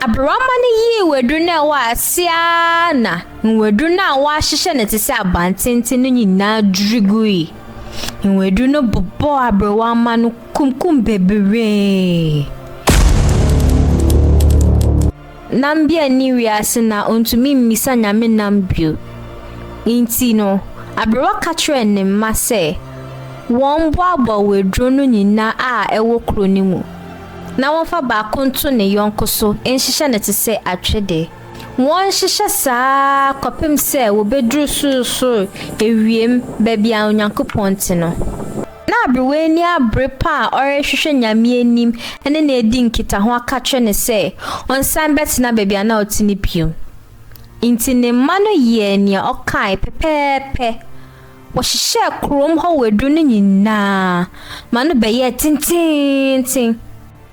Aberewamma no yii nwaduru no a ɛwɔ ase ara na nwaduru no a wɔahyehyɛ no te sɛ abantenten no nyinaa dwiri gui. Nwaduru no bobɔɔ aberewamma no kunkum bebree. Nambia nni wiase na ontumi mmisa Nyame nam bio. Enti no, aberewa ka kyerɛɛ ne mma sɛ wɔmmoaboa waduro no nyinaa a ɛwɔ kuro no mu. na wɔmfa baako nto ne yɔnko so nhyehyɛ no te sɛ atwede. Wɔnhyehyɛ saa ara kɔpem sɛ wɔbɛduru sorosoro ewiem, baabi a Onyankopɔn te no. Na aberewaani abere pa a ɔrehwehwɛ Nyame anim ne no adi nkitaho aka kyerɛ no sɛ ɔnsan bɛtena baabi a na ɔte no bio. Nti ne mma no yɛɛ nea ɔkae pɛpɛɛpɛ. Wɔhyehyɛɛ kurom hɔ waduru no nyinaa ma no bɛyɛɛ tenteenten.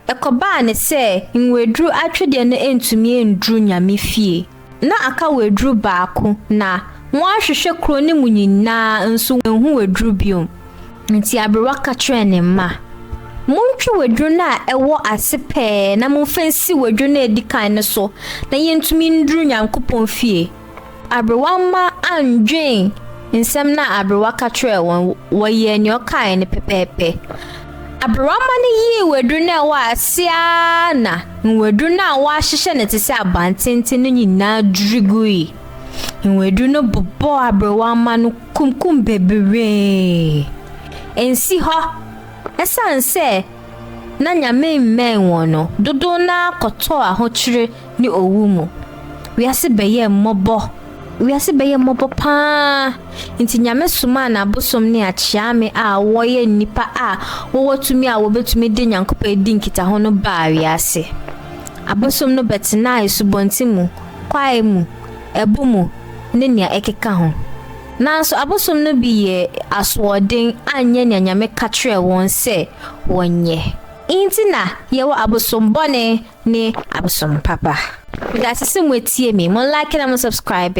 Ɛkɔbaa ne sɛ nwaduru atwedeɛ no antumi anduru Nyame fie. Na aka waduru baako, na wɔahwehwɛ kuro no mu nyinaa nso wɔanhu waduru biom. Nti aberewa ka kyerɛɛ ne mma, Montwe waduru no a ɛwɔ ase pɛɛ na momfa nsi waduru no a ɛdi kan no so na yɛntumi nduru Nyankopɔn fie. Aberewa mma annwen nsɛm no a aberewa ka kyerɛɛ wɔn, wɔyɛɛ nea ɔkae no pɛpɛɛpɛ. Aberewa mma no yii waduru no a ɛwɔ ase ara na nwaduru no a wɔahyehyɛ no te sɛ abantenten no nyinaa dwiri gui. Nwaduru no bobɔɔ aberewa mma no kunkum bebree. Ensi hɔ. Esiane sɛ na Nyame mmɛn wɔn no, dodow no ara kɔtɔɔ ahokyere ne owu mu. Wiase bɛyɛɛ mmɔbɔ. Wiase bɛyɛɛ mmɔbɔ paa. Nti Nyame somaa n'abosom ne akyeame a wɔyɛ nnipa a wɔwɔ tumi a wɔbɛtumi de Nyankopɔn adi nkitaho no baa wiase. Abosom no bɛtenaa asubɔnten mu, kwae mu, ɛbo mu, ne nea ɛkeka ho. Nanso abosom no bi yɛɛ asoɔden anyɛ nea Nyame ka kyerɛɛ wɔn sɛ wɔnyɛ. Nti na yɛwɔ abosom bɔne ne abosom papa. Medase sɛ moatie me, mo like na mo subscribe.